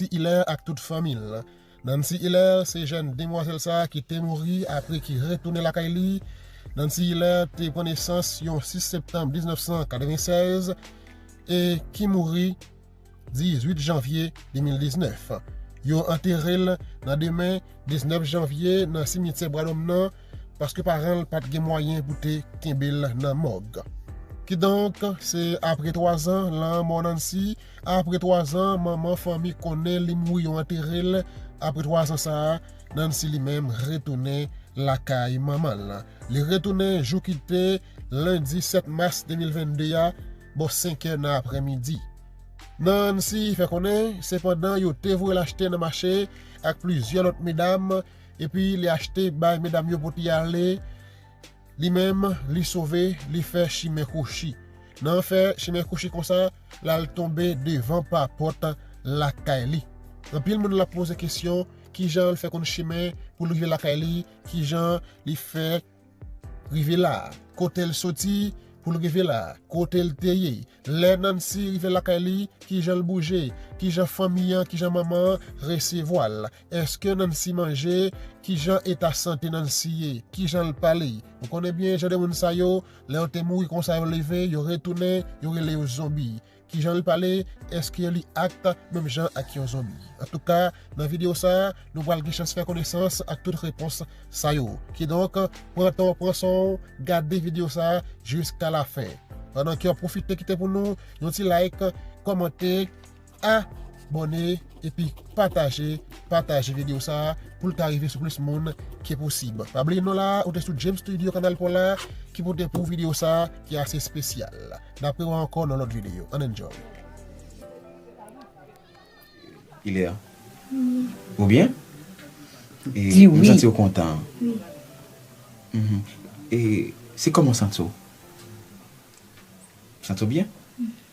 Nancy Hilaire ak tout fanmi l. Nancy Hilaire se jèn demwazèl sa ki te mouri apre ki retounen lakay li. Nancy Hilaire te pran nesans yon 6 septanm 1996 e ki mouri 18 janvye 2019. Yo antere l nan demen 19 janvye nan simityè Bwadòm nan paske paran l pat gen mwayen pou te kenbe l nan mòg. Kidonk, se apre 3 zan lanmò Nancy, Apre 3 zan, manman fanmi konnen li mouri yo antere l. Apre 3 zan sa a, Nancy li menm retounen lakay manman l. Li retounen jou ki te lendi 7 mas 2022 a bò 5 è nan apre midi. Nancy fè konnen se pandan yo te voye l achte nan mache ak plizyè lòt medam epi li achte bay medam yo pou te ale. Li menm, li sove, li fè chimen kwochi. Nan fè chimen kwochi konsa, l al tonbe devan pa pòt lakay li. Anpil moun l ap poze kesyon, ki jan l fè konn chimen pou l rive lakay li, ki jan li fè rive la a, kote l soti pou l rive la a, kote l te ye. Lè Nancy rive lakay li, ki jan l bouje, ki jan fanmi an, ki jan manman an resevwa l. Eske Nancy manje? Kijan eta sante Nancy ye? Kijan l pale? Ou konnen byen jan de moun sa yo, lè yo te mouri konsa yo leve, yo retounen, yo rele yo zonbi. Kijan l pale? Eske yo li act menm jan ak yon zonbi? Antouka, nan videyo sa, nou pral gen chans fè konesans ak tout repons sa yo. Kidonk, pran tan w, pran swen w, gade videyo sa jiska lafen. Pandan ke w ap pwofite kite pou nou yon ti like, kòmante, A bòne epi pataje pataje video sa poul ka rive sou plis moun ke posib pa bliye nou la ou te sou James studio kanal pola ki pote pou video sa ki ase spesyal na prewa ankò nan lòt video an enjoy. Kilè a? Ou byen? Di wi. M santi w kontan. Wi. E se kòman w santi w? Santi w byen?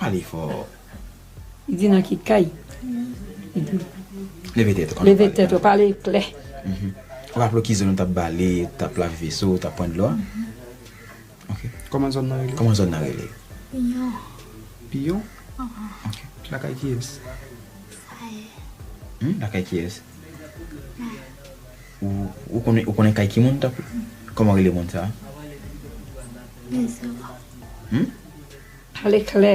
Pale fò. Li di nan ki kay? Li di. Leve tèt ou. Leve tèt ou. Pale klè. Ou raple w ki zòn ou t ap bale, ou t ap lave veso, ou t ap pran dlo a? Ok. Kòman zòn nan rele? Kòman zòn nan rele? Piyon. Piyon? Ok. Lakay kiyès? Sa ye. Lakay kiyès? Ou konnen ou konnen kay ki moun tanpri? Kòman rele moun sa? Bezanwa. Hum? Pale klè.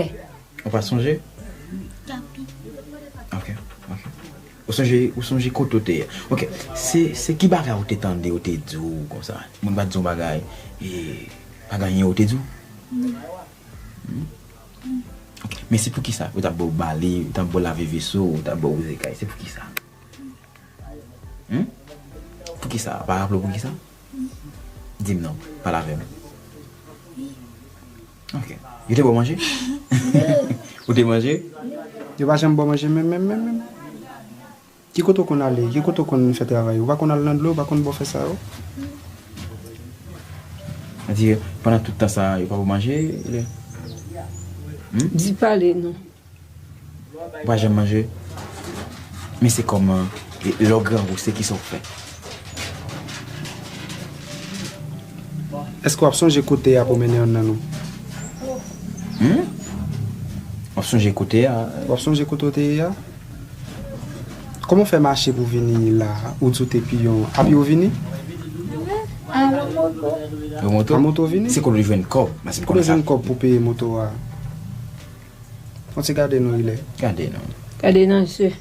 Ou pa sonje? Tanpri. Ok. Ok. Ou sonje ou sonje kote ou te ye? Ok. Se se ki bagay ou te tande yo te di w konsa? Moun pa di w bagay e pa gen anyen yo te di w? Non. Hum? Hum. Ok. Men se poukisa? Yo ta ba w bale, yo ta ba w lave veso, yo ta ba w wouze kay. Se poukisa? Humm poukisa ou pa raple w poukisa di m non pale avè m ok yo te ba w manje ou te manje yo pa janm ba w manje menm menm menm menm ki kote ou konn ale ki kote ou konn fè travay ou pa konn al nan dlo ou pa konn ba w fè sa yo a di pandan tout tan sa yo pa ba w manje humm. Di pale non. Ou pa janm manje? Men se kòman lè w grangou se kisa w fè? Èske w ap sonje kote y ap omennen youn nan nou? Hum? W ap sonje kote a? W ap sonje kote w te ye a? Kòman w fè mache pou w vini la a? Ou di w te piyon. A pye w vini? A moto. A moto w vini? Se kote w jwenn kòb? Kote w jwenn kòb pou w peye moto a? Fon ti gade nou rile. Gade nou. Gade nan je.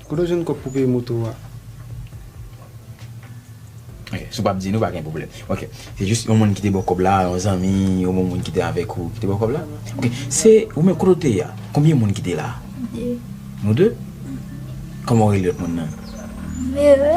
Kote w jwenn kòb pou peye moto w a? Ok, si w pap di nou pa gen pwoblèm. Ok, se jis yon moun ki te ba w kòb la, yon zanmi, yon bon moun ki te avèk ou ki te ba w kòb la? Ok, se ou menm kote w te ye a? Konbyen moun ki te la? De. Nou de? Kòman w rele lòt moun nan? Mira.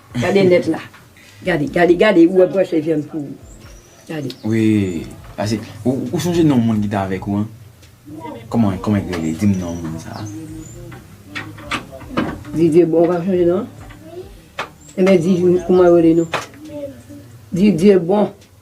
Gade net la. Gade, gade, gade ou wè bwèf e vyann pou ou. Gade. Wi, pase ou sonje non moun ki t avèk ou an? Kòman, kòman li rele? Di m non moun sa a. Didye, bon ou pa sonje non an? Enben di kouman yo rele nou. Didye, bon.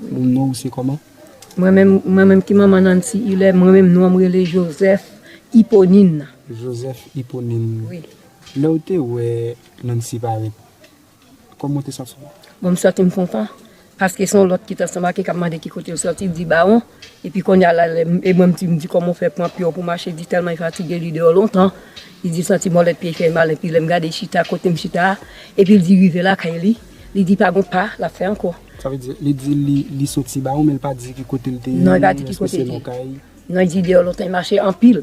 Moun nwa ou se koman? Mwen menm, mwen menm ki manman Nancy Hilaire, mwen menm nonm rele Joseph Hyponine. Joseph Hyponine. Wi. Lè ou te wè Nancy parèt, koman ou te santi w? Bon, m santi m kontan, paske se yon lòt ki t ansanm ak li k ap mande ki kote l soti, l di Bawon, epi kounye a la, lè m, e mwen m di, m di kòman ou fè pran pye w pou mache, li di tèlman li fatige, li deyò lontan, li di l santi mòlèt pye l fè mal, epi lè m gade chita kote m chita a, epi l di rive lakay li. Li di pa gon pa lap fè ankò. Sa vle di, li di li soti ba ou men li pa di ki kote li te ye. Non li pa di ki kote li te ye. Non li di deyò lontan li mache anpil.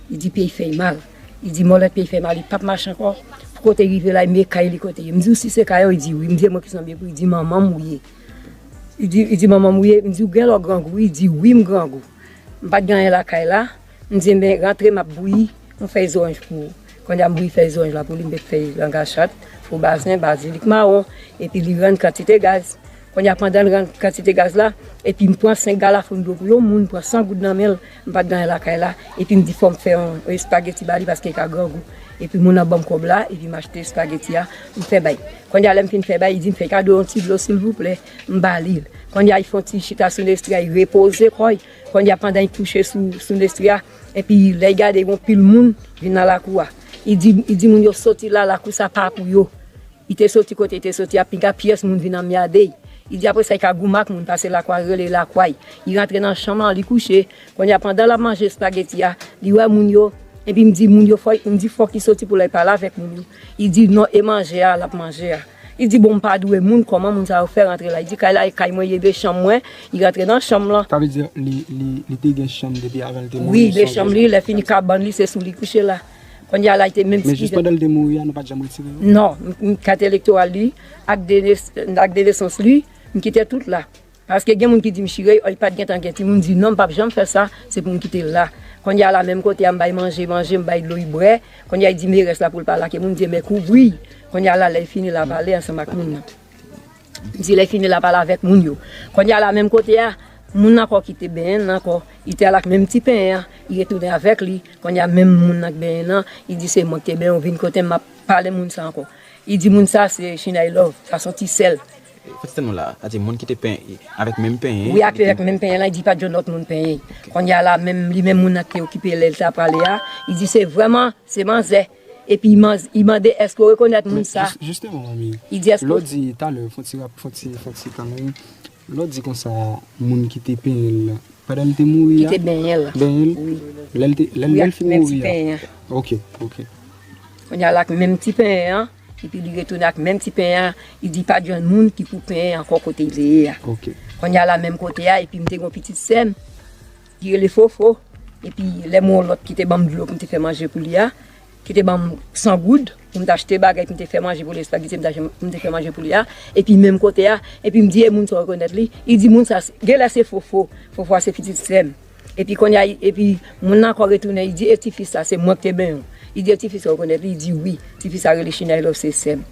Li di pye li fè li mal. Li di mòlèt pye li fè li mal li pap mache ankò. Pou kote li rive la li mande kay li kote ye. M di si se kay ou li di wi. M di e mwen ki son byen pou li di manman m ou ye. Li di manman m ou ye. M di ou gen lè w grangou. Li di wi m grangou. M pat gen anyen lakay la. M di enben rantre m ap bouyi yon fèy zoranj pou ou. Konnye a m bouyi fèy zoranj la pou li, m met fèy langachat, fo basen, bazilik mawon epi li rann kantite gaz. Konnye a pandan l rann kantite gaz la epi m pran 5 galafoun dlo pou yon moun, m pran 100 goud nan men l, m pa t gen anyen lakay la epi m di fò m fè yon espageti ba li paske li ka grangou. Epi moun nan ban m kòb la epi m achte espageti a m fè bay. Konnye a lè m fin fè bay li di m fè kado yon ti dlo silvouplè, m ba li l. Konnye a li fè yon ti chita sou yon estrèy repoze kò l. Konnya pandan i kouche sou Nestria epi lè i gade gon pil moun vin nan lakou a i di i di moun yo soti la lakou sa pa pou yo i te soti kote i te soti a piga pyès moun vin anmyade i i di apresa i ka goumen ak moun pase lakou a rele lakway i rantre nan chanm an li kouche konnya pandan lap manje espageti a li wè moun yo epi m di moun yo fò i m di fòk i soti pou lè i pale avèk moun yo i di non e manje a lap manje a. Li di bon mpa dwe moun koman moun sa yo fè rantre la li di kay la e kay mwen ye 2 chanm mwen li rantre nan chanm lan. Sa vle di li te gen chanm depi avan li te mouri. Wi 2 chanm li lè fini kabann li se sou li kouche la. Kounye a la li te menm. Men jis pandan li te mouri a nou pat janm retire yo? Non, kat elektoral li ak 2 nesans li m kite tout la. Paske gen moun ki dim chire oi pat gentan gen timoun di non mpap janm fè sa se poum kitel la konnya la menm kote a mbay manje manje mbay dlo u brè konnya u di merès la poul pa lake moun mdi men kouvriy konnya la lèy fini la pale ansanm ak moun nan mdi lèy fini la pale avèk moun yo konnya la menm kote a moun nan ankò kite benyen nan ankò u te al ak menm ti penyen an u retounen avèk li konnya menm moun nan k benyen nan u di se mwen kite benyen ou vin kotem map pale moun sa ankò u di moun sa se chinèy love sa son ti sèl. Pastè nou la, sa di moun ki te pen avèk menm penyen. Wi ak lèk menm penyen lan, li di pat jwenn lòt moun penyen. Konnya la menm li menm moun nan ki te okipe lèl ta prale a, li di se vrèman se manzè. Epi li mande èske ou rekonèt moun sa. Juste yon manmi. Li di èske. Lè w di talè fon ti rap fon ti fon ti kanmenm, lè w di konsa moun ki te penyen l lan, pandan li te mouri a. Ki te benyen l. Benyen l. Wi. Lèl te lèl fin mouri a. Wi ak menm ti penyen an. Ok ok. Konnya la ak menm ti penyen an. Epi li retounen ak menm ti pen an, li di pa jwenn moun ki pou pen ankò kote li te ye a. Kounye a la menm kote a, epi m te gen yon pitit sè m ki rele Fofo, epi lè m wè yon lòt ki te ban m dlo pou m te fè manje pou li a, ki te ban m san goud pou m te achte bagay pou m te fè manje pou li, espageti m te achte pou m te fè manje pou li a, epi menm kote a, epi m di e moun sa w rekonèt li? Li di moun sa, genlè se Fofo, Fofo a se pitit sè m. Epi konnya epi moun nan ankò retounen li di e ti fi sa se mwen ki te benyen w li di e ti fi sa ou konnen l li di wi ti fi sa rele chinèy la ou se sè m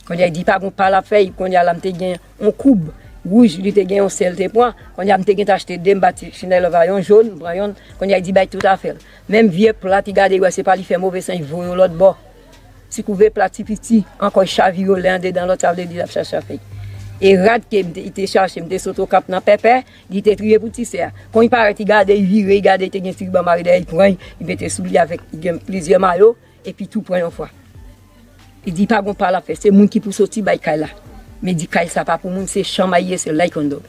konnya li di pa gon pa l ap fè epi konnya la m te gen yon koub wouj li te gen yon sè l te pran konnya m te gentan achte de m ba ti chinèy la va yon jon m pran yonn konnya li di bay tout afè l menm vye plat li gade li wè se pa li fè move san li voye w lòtbò ti kouve plat ti piti ankò li chavire w lè andedan lòt sa vle di l ap chache afè l e rad ke m te li te chache m te sot okap nan pèpè. Li te kriye pou ti sè a. Kon i parèt i gade, i vire, i gade i te gen tiriban mare dèyè, i pran, i mete sou li avèk i gen plizyè mayo, epi tou pran yon fwa. Li di pa gon pa l ap fè, se moun ki pou soti bay kay la. Men di kay sa pa pou moun, se chanmay ye, se lay kondò.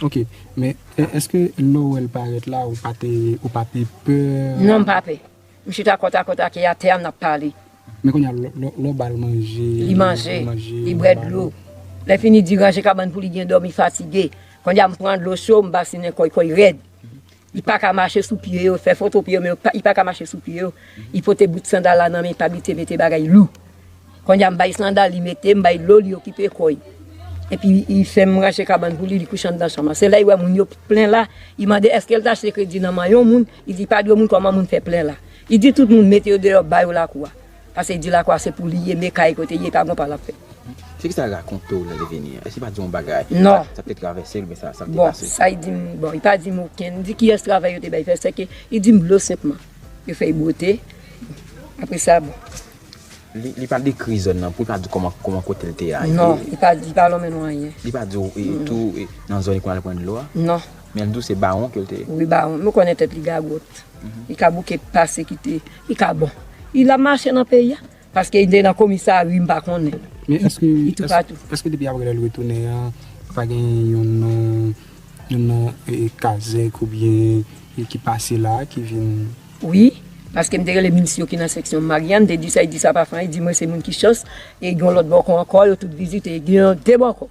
Ok, men èske lè w wè l parèt la, ou pa te, ou pa te pè? Non m pa pè. M chita kòt a kòt ak li atè a n ap pale. Men kounye a, lè w ba l manje. Li manje, li bwè dlo. Lèfini di ranje kabann pou li byen dòmi fatige. Kounye a m pran dlo cho m basinen kò l, kò l rèd. Li pa ka mache sou pye yo, fè foto pye yo men li pa ka mache sou pye yo. Li pote bout sandal la nan men li pa abitye mete bagay lou. Kounye a m bay sandal li mete, m bay dlo li okipe kò l. Epi li fè m ranje kabann pou li, li kouche anndan chanm lan. Se lè li wè moun yo plen la, li mande èske l te achte kredi nan men yon moun. Li di pa di yo moun kòman moun fè plen la. Li di tout moun mete yo deyò ba yo lakou a. Pase li di lakou a se pou li ye, me kay kote ye, pa gon pa l ap fè. Se ki sa l rakonte w nan leveni an? Èske li pa di w yon bagay? Non. Sa k te travèse l oubyen sa k te pase l? Bon, sa li di m, bon, li pa di m okenn. Li di kiyès travay yo te bay fè, sèke li di m dlo senpman. Yo fè l bwote, apre sa bon. Li pa dekri zòn nan pou l pa di w kòman kote l te a ye? Non, li pa lonmen nou anyen. Li pa di w tou nan zòn li konn al pran dlo a? Non. Men l di w se bawon ke l te ye. Wi bawon. Nou konnen tèt li gagòt. Li ka bouke pase kite. Li ka bon. Li la mache nan peyi a. Paske li te nan komisari m pa konnen. Men èske Li toupatou. Èske depi apre lè l retounen an, pa gen yon non, yon non kazèk oubyen ki pase la a ki vin. Wi. Paske m te rele minis yo ki nan seksyon m Maryann. M te di sa, e di sa pa fran. E di mwen se moun ki chans. E gen yon lòt bòkò ankò. Yo tout vizite. Gen yon de bòkò.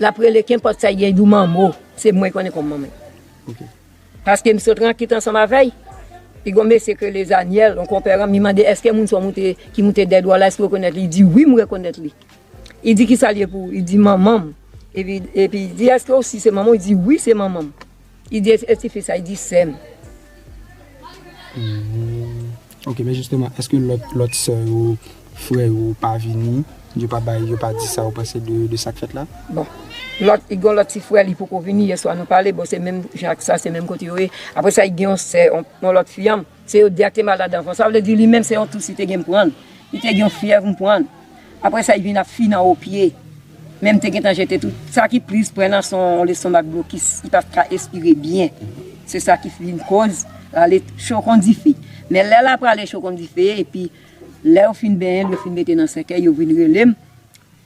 Lap rele kenpòt sa ye you manmo se mwen konnen kòm manmel paskem sot rankit ansanm avèy e gon mesye ki rele zanyèl yon konpè ranm li mande eske moun sa moute ki moute dèd wa la eske ou rekonèt li li di wi mwen rekonèt li li di kisal ye pou ou li di manmanm epi li di eske ou si se manmanw li di wi se manmanm. Li di e tifi sa, li di sèm. Ok men jisteman eske lòt sè yo, frè yo pa vini, yo pa bay, yo pa di sa yo panse de sak fèt la? Bon, lòt, li gon lòt ti frè li poko vini, yèswa nou pale, bon se menm jan ak sa, se menm kote yo ye. Aprè sa li gen yon sè, yon lòt fi anm. Se yo 2 a ki te mal ladan ankò. Sa vle di li menm se yon tousi te gen m pran l. Li te gen yon fyèv m pran l. Aprè sa li vin ap fi nan opye. Men m te gentan jete tout. Sa ki plis pran an son lestomak blokis. Li pa ka espire byen. Se sa ki vin koz rale cho kon dife. Men lè l ap rale cho kon dife epi lè yo fin benyen l yo fin mete nan sèkèy yo vin rele m.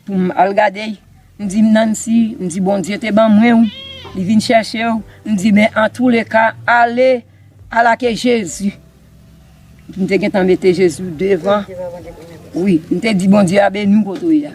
Pou m al gade y, m di m Nancy, m di Bondye te ban mwen w, li vin chèche w, m di men antoulèka ale, ala ke Jezi, m te gentan mete Jezi devan, wi, m te di Bondye a beni w kote w ye a.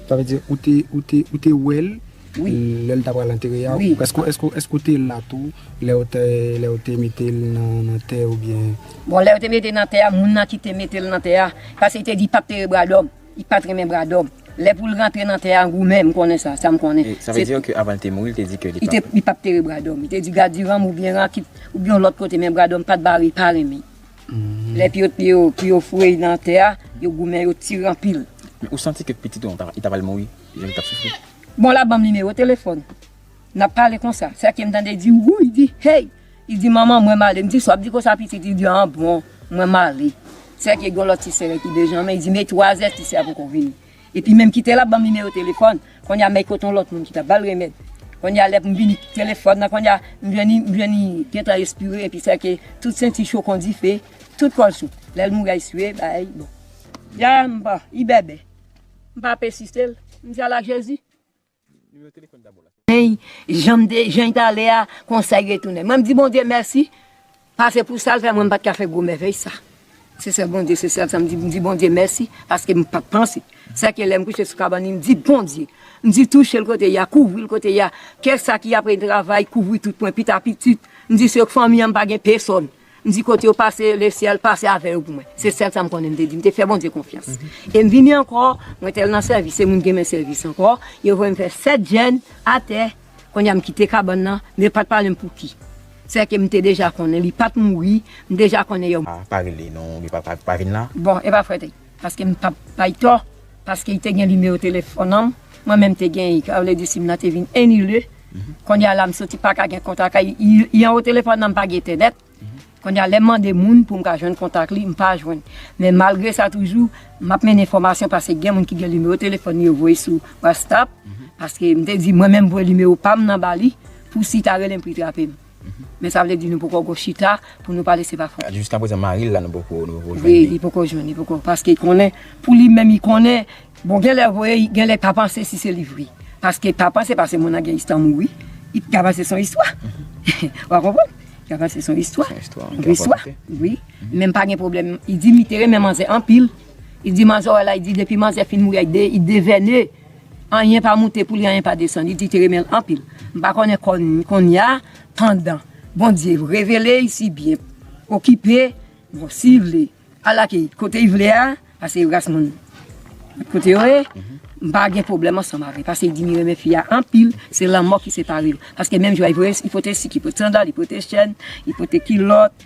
Sa vle di ou te, ou te, ou te wè l lè l ta pral antere a, èske, èske, èske ou te la tou lè yo te, lè yo te mete l nan tè oubyen? Bon lè yo te mete l nan tè a, moun nan ki te mete l nan tè a, paske li te di l pa p te rebradò m. Li pat renmen bradòm. Lè poul rantre nan tè a goumen, m konnen sa, sa m konnen. Sa vle di ke avan li te mouri li te di ke li pap. Li pap tere bradòm. Li te di gadiranm oubyen rakit oubyen yon lòt kote men bradòm pat bare li pa renmen. Lè pye yo pye yo foure li nan tè a, yo goumen yo tire anpil. Men ou santi ke pitit ou an li ta pral mouri jan li tap soufri? Bon la banm nimewo telefòn. Nap pale konsa. Sa ke m tande di wouy di hey. Li di, Manman, mwen male. M di, Sa w ap di konsa, pitit? Li di, An bon, mwen male. Sèke gen yon lòt ti sè ki Benjamen. Li di, Men, twazè ti sè a poko vini. Epi menm kite l ap ban m nimewo telefòn. Kounye a, men kote yon lòt moun ki t ap ba l remèd. Kounye a, lè m vini, telefòn nan, kounye a, m jwenn li, m jwenn li gentan espire. Epi sèke tout senti cho kon dife, tout kò l cho. Lè l mouri a, eswiye, bagay bon. Yaya m pa ibèbè. M pa pèsiste l. M di, Ala Jezi! Janm te jan ta ale a konsa li retounen mwen di Bondye mèsi pase pou sal fè mwen pat ka fè gwo mèvèy sa se sèl Bondye se sèl sam di Bondye mèsi paske m pat panse sa ke lèm kouche sou kabann li m di Bondye m di touchel kote ya kouvril kote ya kè sa ki apre travay kouvri tout pwen pita pitit m di se fanmi an m pa gen pesonn. M di kote yo pase, le syèl pase avè yo pou mwen. Se sèl sa m konnen m te di. M te fè Bondye konfyans. E m vini ankò, mwen te al nan sèvis, se moun ki renmen sèvis ankò, yo voye m fè sèt jèn atè. Kounye a m kite kabann nan, men yo pa t pale m pou ki. Sèke m te deja konnen li pa t mouri, m deja konnen yo. Pa rele non, li pa vin la. Bon, e pa frèt e. Paske m pap bay tò, paske i te gen nimewo telefòn an, mwen menm te gen i, sa vle di sim nan te vin enile, kounye a la m soti paka gen kontak ak i, i anwo telefòn nan m pa gen entènèt, kounye a lè m mande moun pou m ka jwenn kontak li m pa jwenn, men malgre sa toujou m ap mennen enfòmasyon paske gen moun ki gen nimewo telefòn li yo voye sou wastap, paske m te di mwen menm voye nimewo pa m nan ba li pou si ta rele m pou li trape m. Men sa vle di nou poko go chita pou nou pale se pa fon. Jiska prezan mari l la nou poko jwenn li. Wi li poko jwenn li poko paske konnen pou li menm li konnen bon gen lè voye gen lè pa panse si se li vre paske pa panse paske moun nan gen istwa mouri li ka panse son istwa wa konprann li ka panse son istwa wi men m pa gen pwoblèm li di m li te renmen manzè anpil li di manzè w wè la li di depi manzè fin mouri a li devène. Anyen pa moute pou li anyen pa desann li di te renmen l anpil m pa konnen konnya pandan Bondye revele y si byen okipe bon si vle al ak y kote y vle a pase yo ras moun kote yo ye m pa gen pwoblèm ansanm avè pase y di li renmen fi a anpil se lanmò ki separe yo paske menm jou a y voye y pote sik y pote sandal y pote chèn y pote kilòt.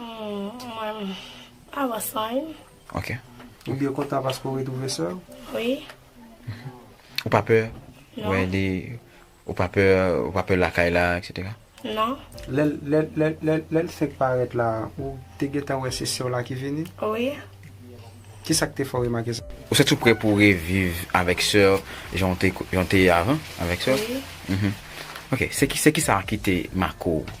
Mwen menm, pa wè san wi m. Ok. Ou byen kontan paske ou retwouve sè ou? Wi. Ou pa pè wè li, ou pa pè, ou pa pè lakay la etc? Non. Lè lè l fenk parèt la, ou te gentan wè se sè w la ki vini? Wi. Kisa k te fè w remake sa? Ou santi w prè pou w reviv avèk sè w jan w te ye avan avèk sè w? Wi. Ok, se kisa ki te make w?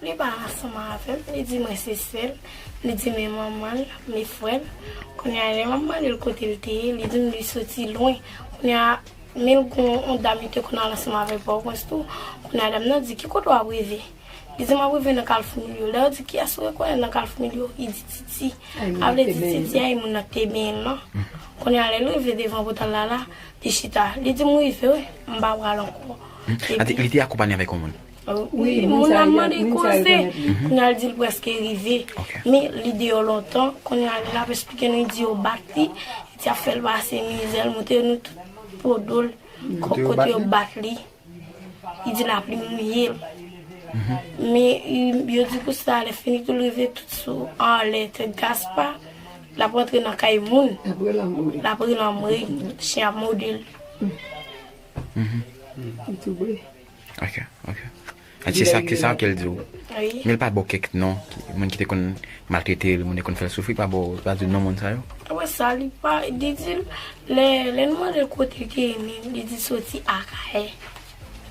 Li pa ansanm avè m, li di mwen se sè l, li di men manman l, men frè l. Kounye a lè m ap mande l kote l te ye, li di m li soti lwen. Kounye a, men l gen yon dam li te konn al ansanm avè l Pòtoprens tou. Kounye a dam nan di, ki kote w ap rive? Li di m ap rive nan Kalfou Milyo. Lè yo di kiyès ou rekonèt nan Kalfou Milyo, li di Titi. Sa vle di Titi a e moun nan ki te benyen l lan. Kounye a lè l rive devan pòtal la la, li chita. Li di m rive wi, m pa pral ankò. Li te akonpanye avèk yon moun? Wi, moun la mande koze, kounye a l di l prèske rive. Men, li deyò lontan, kounye a l ap esplike nou, li di yo bat li, li di y ap fè l pase mizè, l montre nou tout po do l, kote yo bat li, li di lapli mouye l. Men, yo di pou sa, lèfini tou l rive tout sou anlè tèt Gaspa, l ap rantre nan kay moun, l ap relanmre, chen ap mòde l. Ok, ok. An se sa, se sa ke l di w. Wi. Men l pa ba w kèk non, moun ki te konn maltrete l, moun ki te konn fè l soufri, l pa ba w, l pa di w non moun sa yo? Wè sa, li pa, li di l, lè, lè nou mande l kote l te ye menm, li di l soti Akayè.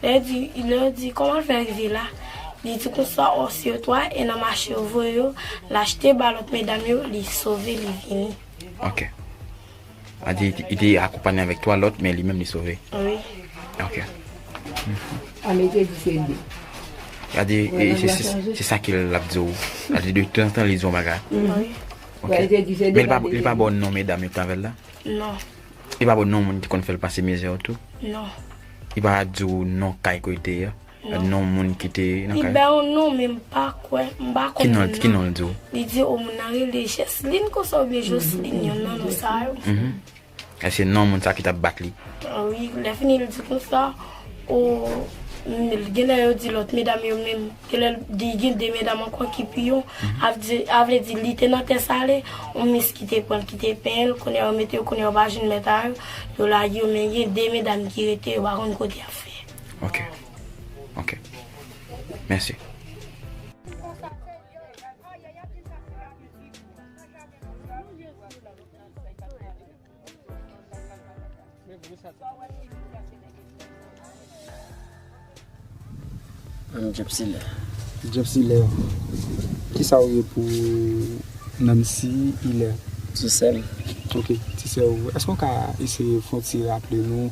Lè yo di, lè yo di kòman l fè rive la, li di konsa o se yo 3 e nan mache yo voye yo, l achte ba lòt medam yo, li sove, li vini. Ok. A di li te akonpanye avèk 3 lòt men li menm li sove? Wi. Ok. A men te di se 2. A di se sa ke l ap di ou. A di de tan an tan li di ou bagay. Wi. Ok. Men li pa ba ou non medam yo ki te avè l la? Non. Li pa ba ou non moun ki te konn fè l pase mizè yo tou? Non. Li pa di ou non kay kote l te ye? Non. Non moun ki te nan kay la. Li bay yon non men m pa kwè, m pa konn moun nan. Ki non l di w? Li di o moun nan rele Jèslin konsa oubyen Joslin yonn nan non sa yo. E se non moun sa ki t ap bat li? Wi, lè fini l di konsa o genlè yo di lòt medam yo men genlè l di gen 2 medam ankò ki pi yo a vle di li te nan tè sale yon mis ki te pran l ki te penyen l kounye a yo mete yo kounye a yo pa jwenn mèt a yo yo lage yo men gen 2 medam ki rete yo pa konn kote y ap fè. Ok Ok Mèsi. Ann Job se lè. Job se lè. Kisa ou ye pou Nancy Hilaire? Ti sè m. Ok. Ti sè ou. Èske ou ka eseye fon ti raple nou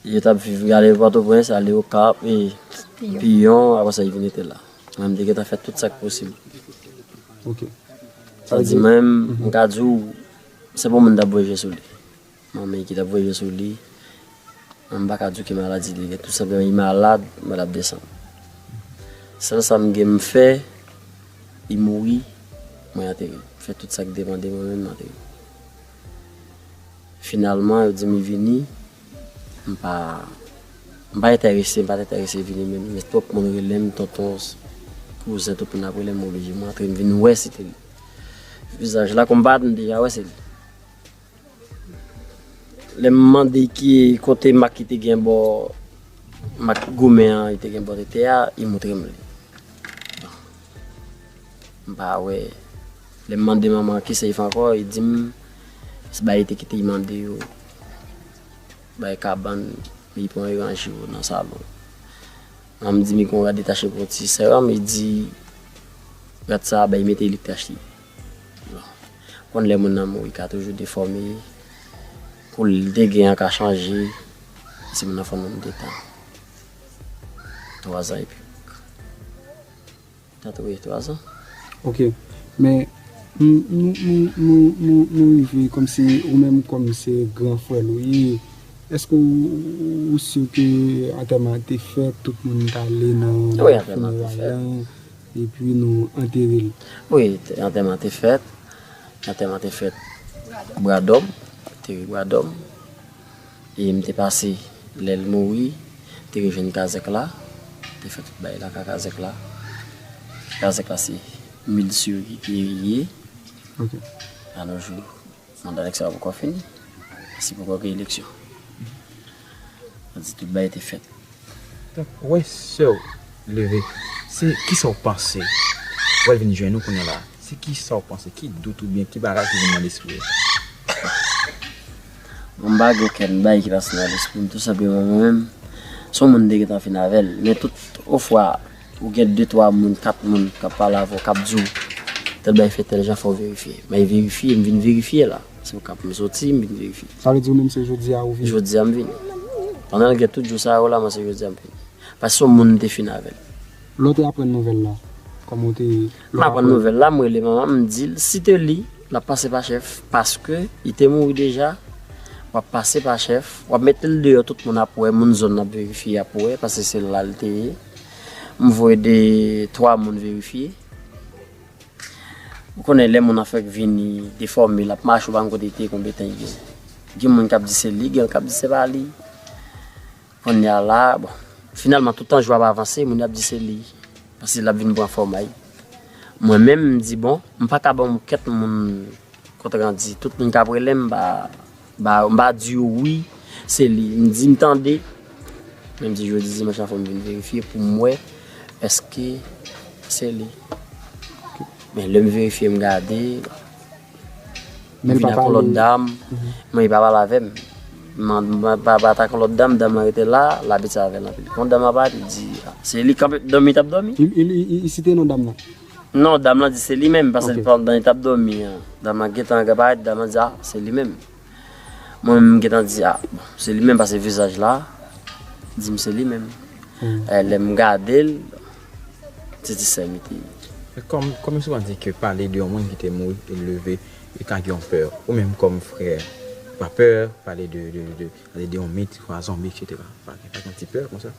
Yo tap viv yo ale pòtoprens ale okap piyon aprè sa yo vin rete la mwen m te gentan fè tout sak posib sa vle di mwen m ka di w se pa w moun tap voye je sou li manmi ki tap voye je sou li mwen m pa ka di w ki maladi li gen tou senpleman li malad mwen tap desann sèl sa m gen m fè li mouri mwen ateri m fè tout sak depan de mwen menm m ateri finalman yo di m li vini M pa M pa entèrese, m pa t entèrese vini menm, men twòp moun rele m tonton, kouzen, tout moun ap rele m, m oblije m rantre m vin wè si te li. Vizaj la kòm m pa t, m deja wè se li. Lè m mande ki kote mak ki te gen bò, mak goumen an ki te gen bò tete a, li montre m li. M pa wè Lè m mande manman an kisa Ivan ankò, li di m se bagay li te kite li mande yo, bagay kabann li pran li ranje yo nan salon. Manman m di m li gen yon rad li te achte pou yon ti sè a, li di rad sa a bay mete li te achte. Ou konn lè moun nan mouri ka toujou defòme, koulè li te gen an ka chanje, si moun nan fè yon nonm de tan, twazan epi. 83 ans. Ok men nou rive komsi ou menm kom se gran frèl ou ye eske ou sur ke antèman an te fèt tout moun t ale nan funeray lan epi nou anterel. Wi antèman an te fèt antèman an te fèt bradòm te wi bradòm. E m te pase lè l mouri, m te rejwenn kazèk la, m te fè tout bagay la ka kazèk la. Kazèk la se Milcio Guerrier. A nos jours, manda nèg sa a poko fini, paske poko gen eleksyon. Sa vle di tout bagay te fèt. Donk ou wè sè ou leve, se kisa ou panse? Ou wè l vin jwenn ou kounyè la, se kisa ou panse? Ki dout oubyen ki bagay ki vin nan lespri ou? Mwen m pa gen okenn bagay ki pase nan lespri m, tou senpleman mwen menm se yon moun m te gentan fin avè l. Men tout ofwa ou gen de twa moun, kat moun k ap pale avè w k ap di w tèl bagay fèt tèl jan fò w verifye. Mwen verifye, m vin verifye la. Se okap m soti, m vin verifye. Sa vle di ou menm se jodi a ou vini? Jodi a m vini. Pandan l gen tout jou sa yo la, mwen se jodi a m vini. Paske se yon moun m te fin avè l. Lè w te aprann nouvèl la, kòman ou te. M aprann nouvèl la, m rele manman m, m di l si te li, l ap pase pa chèf. Paske li te mouri deja, w ap pase pa chèf. W ap mete l deyò, tout moun ap wè, moun zòn nan ap verifye, y ap wè. Paske se la l te ye. M voye de twa moun verifye. Ou konnen lè moun an fèk vini, defòme, l ap mache ou pa konn kote l te konn bete an ye. Gen moun k ap di se li, gen k ap di se pa li. Kounye a la, bon, finalman tout tan jou ap avanse, moun yo ap di se li. Paske l ap vin pran fòm a ye. Mwen menm m di bon, m pa ka ban yon kèt moun kont randi. Tout moun k ap rele m ba. Ba m pa di ou wi se li m di m tande men m di jodi dimanch la fò m vin verifye pou m wè èske se li men lè m verifye m gade m vin ak yon lòt dam men li pa pale avè m m pa bat ak yon lòt dam dam lan rete la l ap pale avè l anpil kon dam lan parèt li di se li kanpe dòmi l t ap dòmi. Li site non dam lan? Non dam lan di se li menm paske pandan li tap domi an dam lan gentan gen parèt dam lan di a se li menm mwen menm m gentan di a bon se li menm paske vizaj la dim se li menm lèm gadel se ti sèm li te ye. Kòm souvan di ke pale de yon moun ki te mouri e leve e ka gen yon pè ou menm kòm frè ou pa pè pale de Pale de yon mit, ti kwa zonbi etc. Pa gen yon ti pè konsa.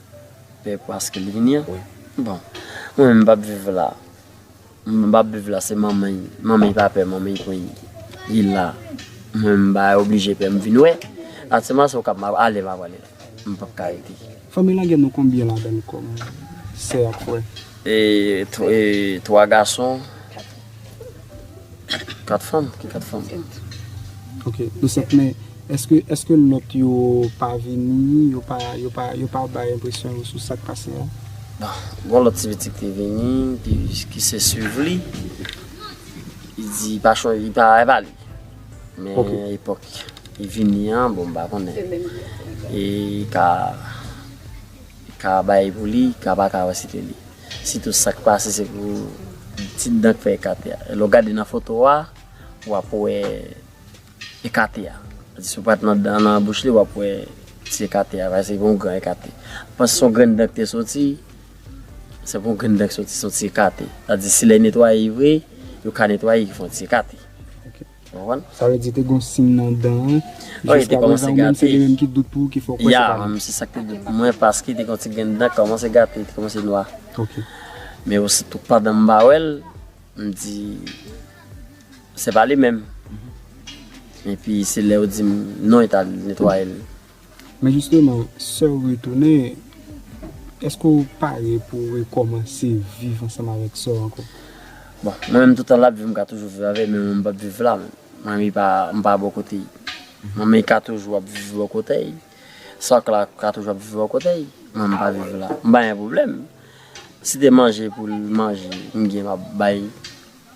Pè paske li vini an? Wi. Bon. Mwen menm m pap viv la. M pap viv la se manman y. Manman y pa pè manman y konn li la. Mwen m bay oblije pè m vin wè. Atseman se w kap m ale m ap ale. M pap ka rete. Fanmi lage nou konbyen ladann kom sè ak frè. E 3 gason 4 fanm. Ok nou 7 men eske lot yo pa vini yo pa bay enpresyon yo sou sak pase a. Bon gon lot ti pitit ki vini ki se suiv li li di pa chonje li pa ale. Men epòk li vini an bon m pa konnen e ka ka bay pou li ka pa ka wè site li sitou sak pase se pou ti dan k fè ekate a lè w gade nan foto a wap wè ekate a si w pat nan dan nan bouch li wap wè ti ekate a se pou yon gran ekate m panse se yon grenn dan k te soti se pou yon grenn dan k soti se yon ti ekate sa vle di si lè netwaye vre yo ka netwaye ki fè yon ti ekate. Sa vle di te gon sin nan dan an. Wi li te komanse gate. Se li menm ki dout pou ou ki fè w kwè se pa li. Ya se sa ki te dout pou mwen paske te gen yon ti grenn dan ki komanse gate li te komanse nwa. Ok. Men ositou pandan m pa wè l, m di se pa li menm. Epi se lè yo di m non yo t al netwaye l. Men jisteman, sè w retounen, èske w pare pou w rekòmanse viv ansanm avèk sè w ankò? Bon, mwen menm toutan l ap viv m ka toujou viv avè l, men mwen m p ap viv la menm. Mwen menm m pa bò kote l. Mwen menm ka toujou ap viv bò kote l. Sòk la ka toujou ap viv bò kote l. Mwen menm m pa viv la. M pa gen pwoblèm. Si te manje pou l manje, m gen m ap bay.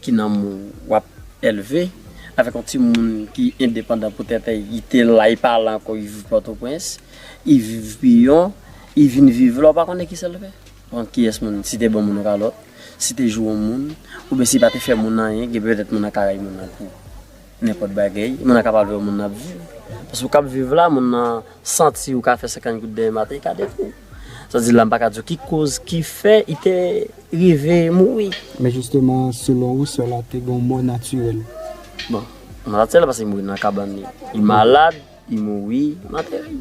Ki nanm ou wap elve. Avèk yon timoun ki endepandan pou tèt l, li te la, li pa la ankò, li viv Pòtoprens, li viv Piyon, li vin viv la, ou pa konnen kisa l fè? Bon, kiyès moun, si te ban moun yon kalòt, si te joure moun, oubyen si pa te fè moun anyen, gen pètèt moun nan ka rayi moun nan tou. Nenpòt bagay, moun nan kapab vèw moun nan ap viv. Paske ou kap viv la, moun nan santi ou ka fè 50 goud dèyè maten li ka deviw. Sa di la mpa ka diw ki koz ki fè li te rive mouri. Men jisteman selon ou sè la te gen yon mò natirèl? Bon, mò natirèl paske li mouri nan kabann li. Li malad. Li mouri mately.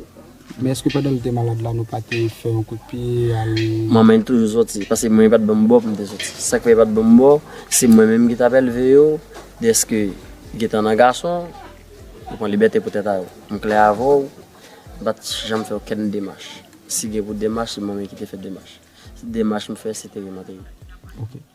Men eske pandan li te malad la nou pa te fè yon kout pye al. Manman li toujou soti paske mwen yo pat banm bò poum te soti sak fè yo pat banm bò se mwen menm ki tap elve yo deske gentan nan gason yo pran libète pou tèt a yo m klè avèw m pat janm fè okenn demach si gen pou demach se mwen menm ki te fè demach demach m fè se te rematerialize.